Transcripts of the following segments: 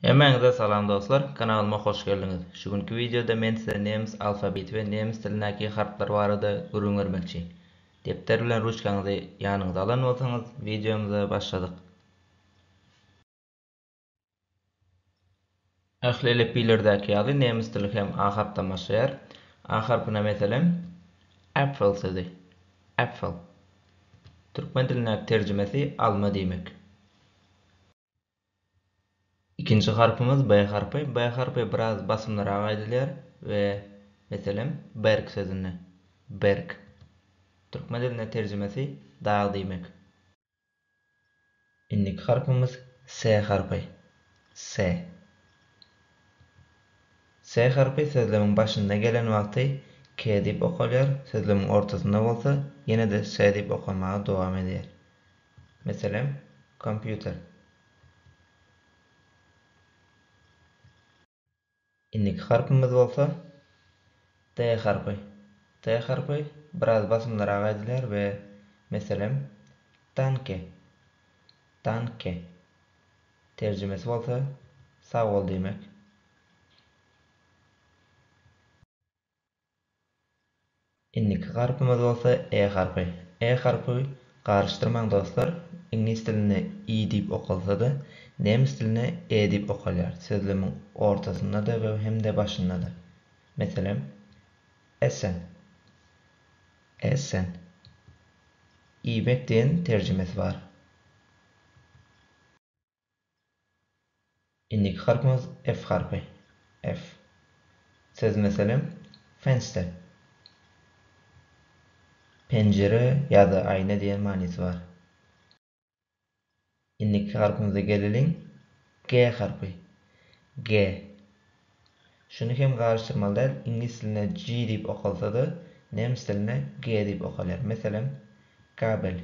Hemmäňize salam dostlar, kanalyma hoş geldiňiz. Şu günki wideoda men size nemes alfabeti we nemes dilindäki harplar barada gürrüň bermekçi. Depder bilen ruçkaňyzy ýanyňyza alan bolsaňyz, wideomyza başladyk. Ähli elipbiýlerdäki ýaly nemes dili hem A harpdan başlaýar. A harpyna meselem, Äpfel sözi, Äpfel. Türkmen dilindäki terjimesi alma diýmek. Ikinji harpymyz B harpy. B harpy biraz basymlyrak aýdylýar we meselem, berk sözünde. Berk. Türkmen dilinde terjimesi dag diýmek. Indiki harpymyz S harpy. Se. Se harpy sözlemiň başynda gelen wagty ke diýip okalýar, sözlemiň ortasynda bolsa ýene-de se diýip okanmaga dowam edýär. Meselem, kompýuter. Indiki harpymyz bolsa T harpy. T harpy biraz basymlyrak aýdylýar we meselem, tanke, tanke. Terjimesi bolsa sag bol diýmek. Indiki harpymyz bolsa E harpy. E harpy garyşdyrmaň dostlar, iňlis dilinde i diýip okalsa-da, nemes dilinde e diýip okalýar, sözlemiň ortasynda-da we hem-de başynda-da. Meselem, Essen, Essen. Iýmek diýen terjimesi bar. Indiki harpymyz F harpy. F. Söz meselem, Fenster. Penjire ýa-da aýna diýen manysy bar. Indiki harpymyza geleliň, G harpy. G. Şuny hem garyşdyrmaly däl, iňlis dilinde G diýip okalsa-da, nemes dilinde G diýip okalýar. Meselem, Gabel.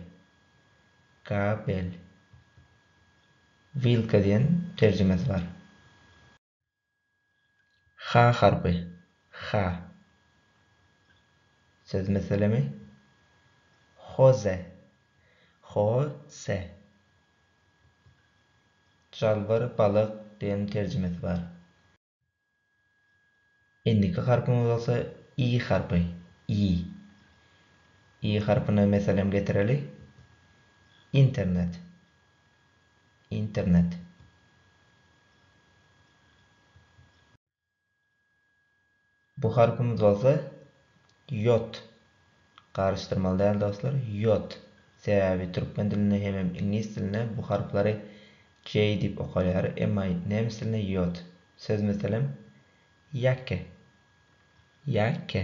Gabel. Wilka diýen terjimesi bar. H harpy. H. Söz meselemi. Hoze. Ho-se. Jalbyr balyk diýen terjimesi bar. Indiki harpymyz bolsa i harpy, i. I harpyna meselem getireli. Internet. Internet. Bu harpymyz bolsa ýot. Garyşdyrmaly däl dostlar, ýot. Sebäbi türkmen dilinde hemem iňlis dilinde bu harplary J diýip okalýar, emma nemes dilinde ýot. Söz meselem, Jacke. Jacke.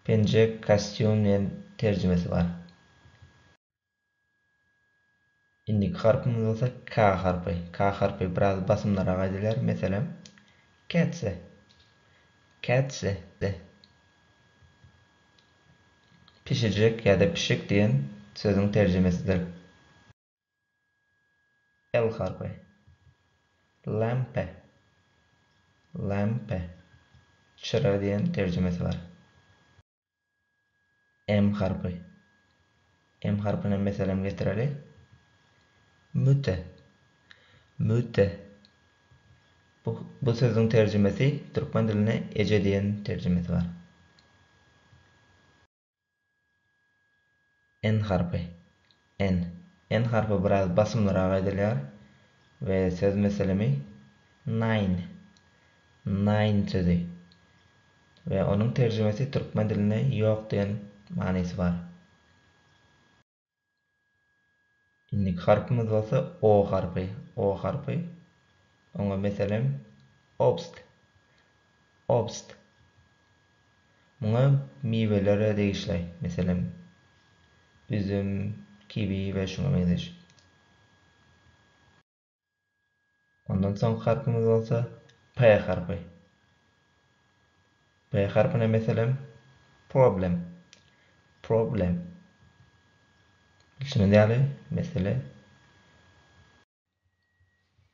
Penjek, kostýum diýen terjimesi bar. Indiki harpymyz bolsa K harpy. K harpy biraz basymlyrak aýdylýar. Meselem, kätse, kätse, de. Pişijek ýa-da pişik diýen sözüň terjimesidir. L harpy. Lempe, lempe, çyra diýen terjimesi bar. M harpy. M harpyna meselem getireli. Müte. Müte. Bu, bu sözüň terjimesi türkmen diline eje diýen terjimesi bar. N harpy. N. N harpy biraz basymlyrak aýdylýar we söz meselemi nine, naýyn sözi we onuň terjimesi türkmen dilinde ýok diýen manysy bar. Indiki harpymyz bolsa O harpy. O harpy. Oňa meselem, obst. Obst. Muňa miweler-ä degişli. Meselem, üzüm, kiwi we şuňa meňzeş. Ondan soňky harpymyz bolsa P harpy. P harpyna meselem problem, problem. Bilşiňiz ýaly, mesele.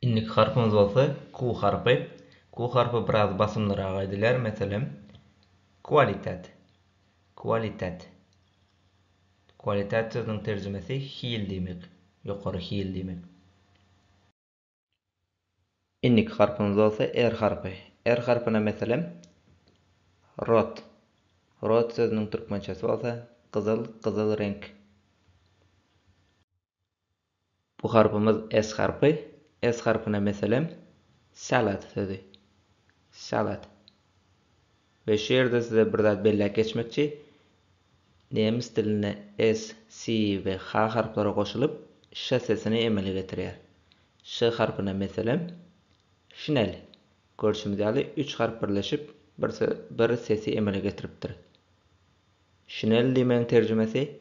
Indiki harpymyz bolsa Q harpy. Q harpy biraz basymlyrak aýdylýar, meselem, kualitet, kualitet. Qualitet sözüniň terjimesi hil diýmek, ýokary hil diýmek. Indiki harpymyz bolsa R harpy. R harpyna meselem, rot. Rot sözüniň türkmençesi bolsa gyzyl, gyzyl reňk. Bu harpymyz S harpy. S harpyna meselem, salad sözi. Salad. We şu ýerde size bir zat belläp geçmekçi, nemes dilinde S, S we H harplary goşulyp, ş sesini emele getirýär. Ş harpyna meselem, şinel. Görşümiz ýaly, üç harp birleşip, bir sesi emele getiripdir. Şinel diýmegiň terjimesi,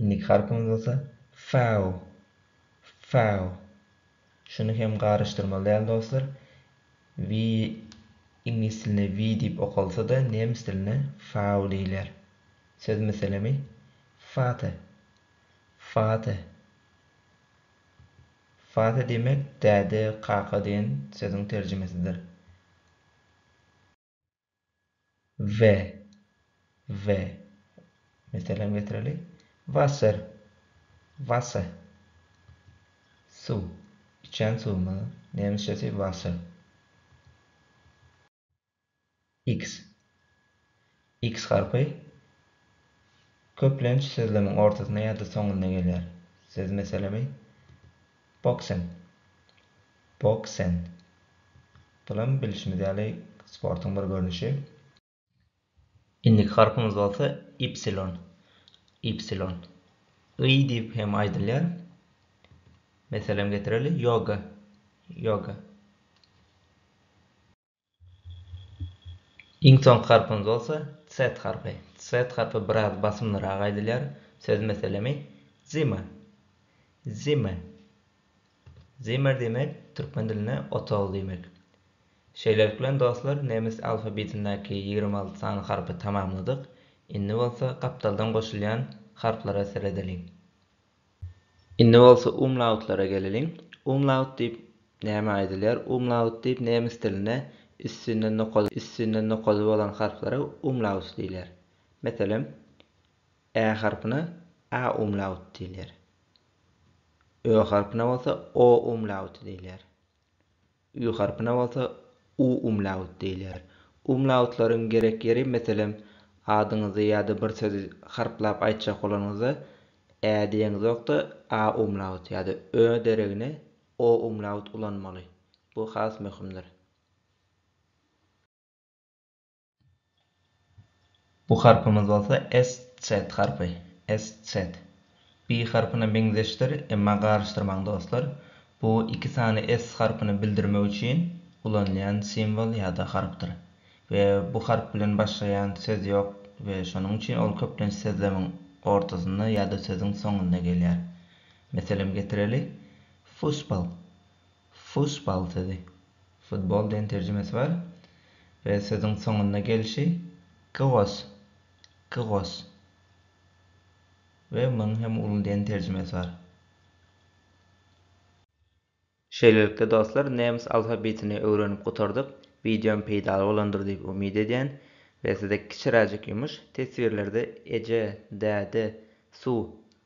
Indiki harpymyz bolsa fau, fau. Şuny hem garyşdyrmaly däl dostlar. We iňlis dilinde we diýip okalsa-da nemes dilinde fau diýilýär. Söz meselemi fate, fate. Fate diýmek däde, kaka diýen sözüň terjimesidir. we we Meselem getireli. Wasser, Wasse. Suw. Içen suwumyz. Nemisçesi Wasser. X. X harpy köplenç sözlemiň ortasynda ýa-da soňunda gelýär. Söz meselemi Boksen. Boksen. Bulam bilşimiz ýaly sportuň bir görnüşi. Indiki harpymyz bolsa ypsilon. Ypsilon. Yý diýip hem aýdylýar. Meselem getireli, ýoga. Ýoga. Iň soňky harpymyz bolsa Z harpy. Z harpy biraz basymlyrak aýdylýar. Söz meselemi, Zimmer. Zimmer. Zimmer diýmek türkmen dilinde otag diýmek. Şeýlelik bilen dostlar nemes alfabetindäki ýigrimi alty sany harpy tamamladyk. Indi bolsa gapdaldan goşulýan harplara seredeliň. Indi bolsa umlautlara geleliň. Umlaut diýip nämä aýdylýar? Umlaut diýip nemes dilinde üstünde nokady üstünde nokady bolan harplara umlaut diýilýär. Meselem, ä harpyna a umlaut diýilýär. Ö harpyna bolsa o umlauty diýilýär. Ü harpyna bolsa u umlaut diýilýär. Umlautlaryň gerek ýeri, meselem, adyňyzy ýa-da bir sözi harplap aýtjak bolanyňyzda ä diýeňizok-da, a umlaut ýa-da ö deregine o umlaut ulanmaly. Bu has möhümdir. Bu harpymyz bolsa SZ harpy, SZ. Bi harpyna meňzeşdir, emma garyşdyrmaň dostlar. Bu iki sany S harpyny bildirmek üçin ulanylýan simwol ýa-da harpdyr. We bu harp bilen başlaýan söz ýok we şonuň üçin ol köplenç sözlemiň ortasynda ýa-da sözüň soňunda gelýär. Meselem getireli, Fussball. Fussball sözi futbol diýen terjimesi bar we sözüň soňunda gelşi gyos, gyos we munuň hem uly diýen terjimesi bar. Şeýlelikde dostlar nemis alfabetini öwrenip gutardyk, wideom peýdaly bolandyr diýip umyt edýän we size kiçiräjik ýumuş, teswirlerde eje, däde, suw,